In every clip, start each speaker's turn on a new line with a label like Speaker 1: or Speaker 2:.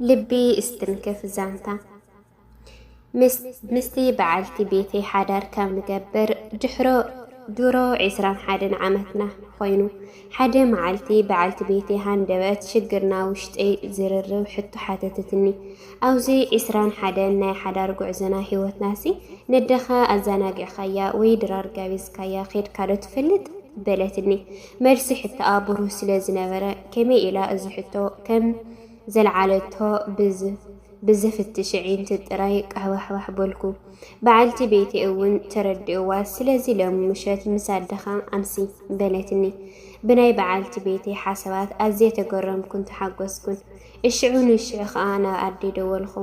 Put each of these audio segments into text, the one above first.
Speaker 1: ልቢ እስትንክፍ ዛንታ ምስቲ በዓልቲ ቤተይ ሓዳር ካብ ንገብር ድሕሮ ድሮ ዒስራን ሓደን ዓመትና ኮይኑ ሓደ መዓልቲ በዓልቲ ቤተይ ሃንደበት ሽግርና ውሽጠይ ዝርርብ ሕቶ ሓተተትኒ። ኣብዚ ዒስራን ሓደን ናይ ሓዳር ጉዕዞና ህይወትናሲ ነደኻ ኣዘናጊዕካያ ወይ ድራር ጋቢዝካያ ኼድካዶ ትፈልጥ በለትኒ። መልሲ ሕቶኣ ብሩህ ስለ ዝነበረ፣ ከመይ ኢላ እዚ ሕቶ ከም ዘልዓለቶ ብዝ ብዘፍትሽ ኣዒንቲ ጥራይ ቃሕባሕባሕ በልኩ። በዓልቲ ቤተይ እውን ተረድእዋ። ስለዚ ሎሚ ምሸት ምስ ኣደኻ ኣምሲ፣ በለትኒ። ብናይ በዓልቲ ቤተይ ሓሳባት ኣዝየ ተገረምኩን ተሓጎስኩን። እሽዑ ንሽዑ ከኣ ናብ ኣደይ ደወልኹ።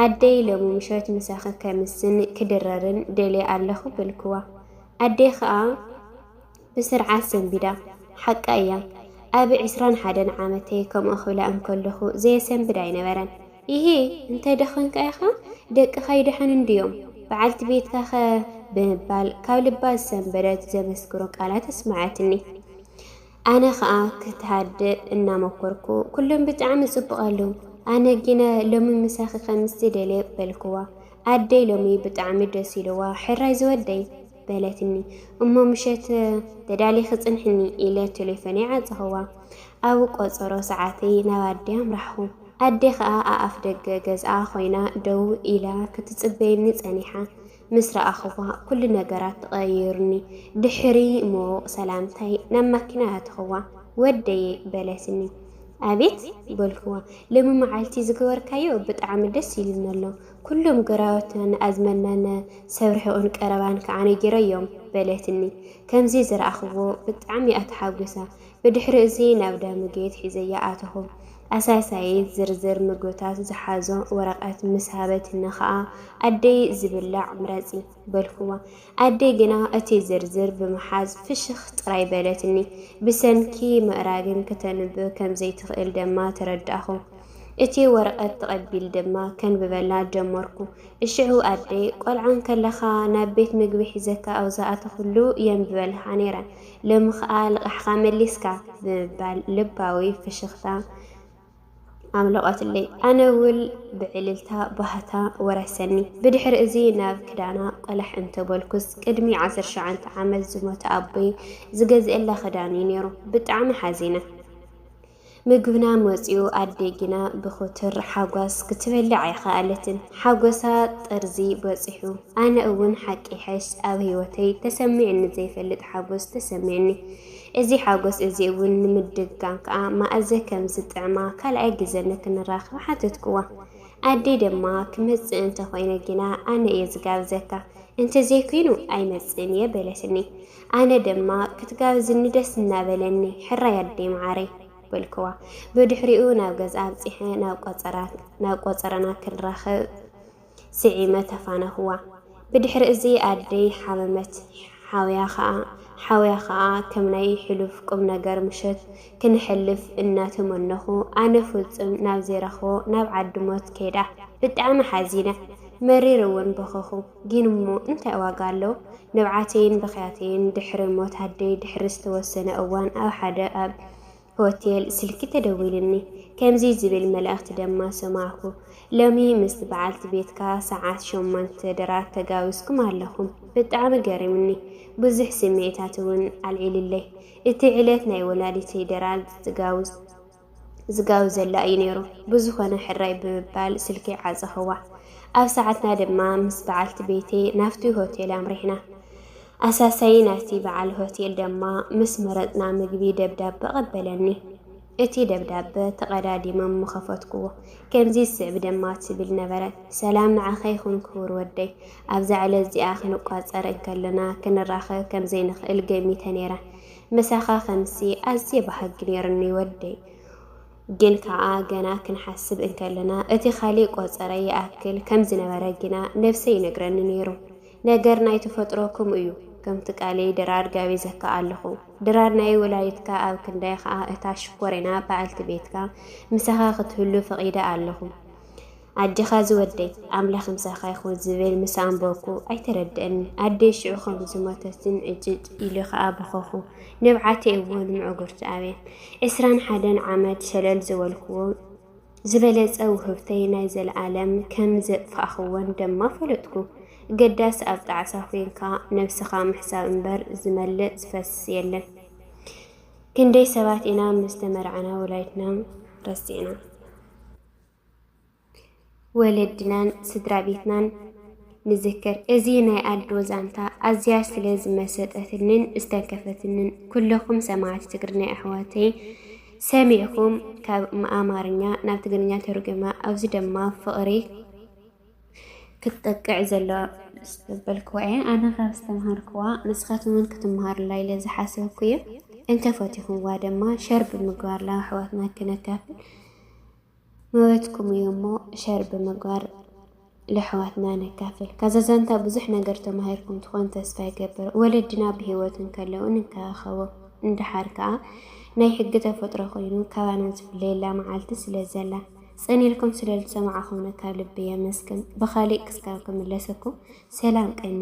Speaker 1: ኣደይ ሎሚ ምሸት ምሳኺ ከምስን ክድረርን ደልየ ኣለኹ በልክዋ። ኣደይ ከኣ ብስርዓት ሰንቢዳ ሓቃ እያ ኣብ ዕስራን ሓደን ዓመተይ ከምኦ ክብላ እንከለኹ ዘየሰንብድ ኣይነበረን። ኢሂ እንተ ደኸንካ ኢኻ ደቅኻ ይድሐኑ እንድዮም በዓልቲ ቤትካ ከ ብምባል ካብ ልባ ዝሰንበደት ዘመስክሮ ቃላት ኣስመዐትኒ። ኣነ ከኣ ክትሃድእ እናመኮርኩ ኩሎም ብጣዕሚ ጽቡቕ ኣለው ኣነ ጊነ ሎሚ ምሳኺ ከምስ ዝደልየ በልክዋ። ኣደይ ሎሚ ብጣዕሚ ደስ ኢልዋ ሕራይ ዝወደይ። በለትኒ። እሞ ምሸት ተዳሊኺ ጽንሕኒ ኢለ ቴሌፎነይ ዓጸኽዋ። ኣብ ቆጸሮ ሰዓተይ ናብ ኣዴ ኣምራሕኹ። ኣዴ ከኣ ኣኣፍ ደገ ገዝኣ ኮይና ደው ኢላ ክትጽበየኒ ጸኒሓ ምስ ረኣኽዋ ኩሉ ነገራት ተቐይሩኒ። ድሕሪ ምዉቕ ሰላምታይ ናብ ማኪና ኣተኽዋ። ወደየ በለትኒ። ኣቤት በልክዋ። ሎሚ መዓልቲ ዝገበርካዮ ብጣዕሚ ደስ ኢሉኒ ኣሎ። ኵሎም ግራውትና ንኣዝመናና ሰብ ርሒቑን ቀረባን ከኣ ነጊረዮም፣ በለትኒ። ከምዚ ዝረኣኽዎ ብጣዕሚ እያ ተሓጒሳ። ብድሕሪ'ዚ ናብ ዳሙጌት ሒዘያ ኣተኹ። ኣሳሳዪት ዝርዝር ምግብታት ዝሓዞ ወረቐት ምስ ሃበትኒ ከኣ ኣደይ ዝብላዕ ምረጺ! በልክዋ። ኣደይ ግና እቲ ዝርዝር ብምሓዝ ፍሽኽ ጥራይ በለትኒ። ብሰንኪ ምእራግን ክተንብብ ከም ዘይትኽእል ደማ ተረዳእኹ። እቲ ወረቐት ተቐቢል ድማ ከንብበላ ጀመርኩ። እሽዑ ኣደይ ቆልዓ እንከለኻ ናብ ቤት ምግቢ ሒዘካ ኣብ ዝኣተኹሉ የንብበልካ ነይረ፣ ሎሚ ኸኣ ልቓሕኻ መሊስካ ብምባል ልባዊ ፍሽኽታ ኣምለቐትለይ። ኣነ እውን ብዕልልታ ባህታ ወረሰኒ። ብድሕሪ እዚ ናብ ክዳና ቆላሕ እንተ በልኩስ ቅድሚ ዓሰርተ ሸውዓተ ዓመት ዝሞተ ኣቦይ ዝገዝኤላ ክዳን እዩ ነይሩ። ብጣዕሚ ሓዚነ። ምግብና መፅዩ ኣደይ ግና ብኹትር ሓጓስ ክትበልዕ ኣይኸኣለትን። ሓጎሳ ጥርዚ በፂሑ። ኣነ እውን ሓቂ ይሐሽ ኣብ ህይወተይ ተሰሚዕኒ ዘይፈልጥ ሓጎስ ተሰሚዕኒ። እዚ ሓጎስ እዚ እውን ንምድጋም ከኣ ማእዘ ከም ዝጥዕማ ካልኣይ ግዘ ንክንራኸብ ሓተትክዋ። ኣደይ ድማ ክመጽእ እንተ ኾይነ ግና ኣነ እየ ዝጋብዘካ፣ እንተ ዘይኩይኑ ኣይመጽእን እየ በለትኒ። ኣነ ድማ ክትጋብዝኒ ደስ እናበለኒ ሕራይ ኣደይ መዓረይ በልክዋ። ብድሕሪኡ ናብ ገዝኣ ኣብጺሐ ናብ ቆጸረና ክንራኸብ ስዒመ ተፋነኹዋ። ብድሕሪ እዚ ኣደይ ሓመመት። ሓውያ ከኣ ሓውያ ከኣ ከም ናይ ሕሉፍ ቁምነገር ምሸት ክነሕልፍ እናተመነኹ ኣነ ፍጹም ናብ ዘይረኽቦ ናብ ዓዲ ሞት ከይዳ። ብጣዕሚ ሓዚነ። መሪር እውን በኸኹ። ግን እሞ እንታይ ዋጋ ኣለዎ? ንብዓተይን ብኽያተይን ድሕሪ ሞት ኣደይ ድሕሪ ዝተወሰነ እዋን ኣብ ሓደ ኣብ ሆቴል ስልኪ ተደዊሉኒ ከምዚ ዝብል መልእኽቲ ደማ ሰማዕኩ ሎሚ ምስቲ በዓልቲ ቤትካ ሰዓት ሸሞንተ ድራት ተጋዊዝኩም ኣለኹም ብጣዕሚ ገሪሙኒ ብዙሕ ስምዒታት እውን ኣልዒሉለይ እቲ ዕለት ናይ ወላዲተይ ድራት ዝጋውዝ ዝጋውዘላ እዩ ነይሩ ብዝኾነ ሕራይ ብምባል ስልከይ ዓጸኸዋ ኣብ ሰዓትና ድማ ምስ በዓልቲ ቤተይ ናብቲ ሆቴል ኣምሪሕና ኣሳሳዪ ናይቲ በዓል ሆቴል ደማ ምስ መረጽና ምግቢ ደብዳበ ኣቐበለኒ። እቲ ደብዳበ ተቐዳዲመ እሞ ከፈትኩዎ። ከምዚ ዝስዕብ ደማ ትብል ነበረት፣ ሰላም ንዓኻ ይኹን ክቡር ወደይ። ኣብዛ ዕለት እዚኣ ክንቋጸር እንከለና ክንራኸብ ከም ዘይንኽእል ገሚተ ነይረ። ምሳኻ ከምሲ ኣዝየ በሃጊ ነይሩኒ ወደይ። ግን ከኣ ገና ክንሓስብ እንከለና እቲ ካልእ ቆጸራ ይኣክል ከም ዝነበረ ግና ነብሰይ ይነግረኒ ነይሩ። ነገር ናይ ተፈጥሮ ክምኡ እዩ ከምቲ ቃለይ ድራር ጋቢዘካ ኣለኹ ድራር ናይ ወላዲትካ ኣብ ክንዳይ ኸኣ እታ ሽኮሪና በኣልቲ ቤትካ ምሳኻ ክትህሉ ፈቒደ ኣለኹ ኣጀኻ ዝወደይ ኣምላኽ ምሳኻ ይኹን ዝብል ምስ ኣንበብኩ ኣይተረድእኒ ኣደይ ሽዑ ከም ዝሞተትን ዕጭጭ ኢሉ ኸኣ በኸኹ ንብዓተይ እውን ምዕጉርቲ ኣብየን ዕስራን ሓደን ዓመት ሸለል ዝበልክዎ ዝበለጸ ውህብተይ ናይ ዘለኣለም ከም ዘጥፋእኽወን ደማ ፈለጥኩ። ገዳስ ኣብ ጣዕሳ ኮንካ ነብስኻ ምሕሳብ እምበር ዝመልእ ዝፈስስ የለን። ክንደይ ሰባት ኢና ምስ ተመርዓና ወላዲትና ረሲዕና። ወለድናን ስድራ ቤትናን ንዝክር። እዚ ናይ ኣልዶ ዛንታ ኣዝያ ስለ ዝመሰጠትንን ዝተንከፈትንን ኩለኹም ሰማዕቲ ትግርኛ ኣሕዋተይ ሰሚዕኩም ካብ ኣማርኛ ናብ ትግርኛ ተርጉማ ኣብዚ ድማ ፍቕሪ ክትጠቅዕ ዘለዋ ዝተበልክዋ እየ ኣነ ካብ ዝተምሃርክዋ ንስኻትኩም እውን ክትምሃሩላ ኢለ ዝሓሰብኩ እየ እንተፈቲኹምዋ ድማ ሸር ብምግባር ላሕዋትና ክነካፍል መበትኩም እዩ እሞ ሸር ብምግባር ለሕዋትና ነካፍል ካዛ ዛንታ ብዙሕ ነገር ተማሂርኩም ትኾን ተስፋ ይገብር ወለድና ብሂወት እንከለዉ ንከባኸቦም እንድሓር ከዓ ናይ ሕጊ ተፈጥሮ ኮይኑ ካባና ዝፍለየላ መዓልቲ ስለ ዘላ ጽን ኢልኩም ስለ ዝሰማዕኹምና ካብ ልቢ የመስግን ብኻሊእ ክስካብ ክምለሰኩም ሰላም ቀኒ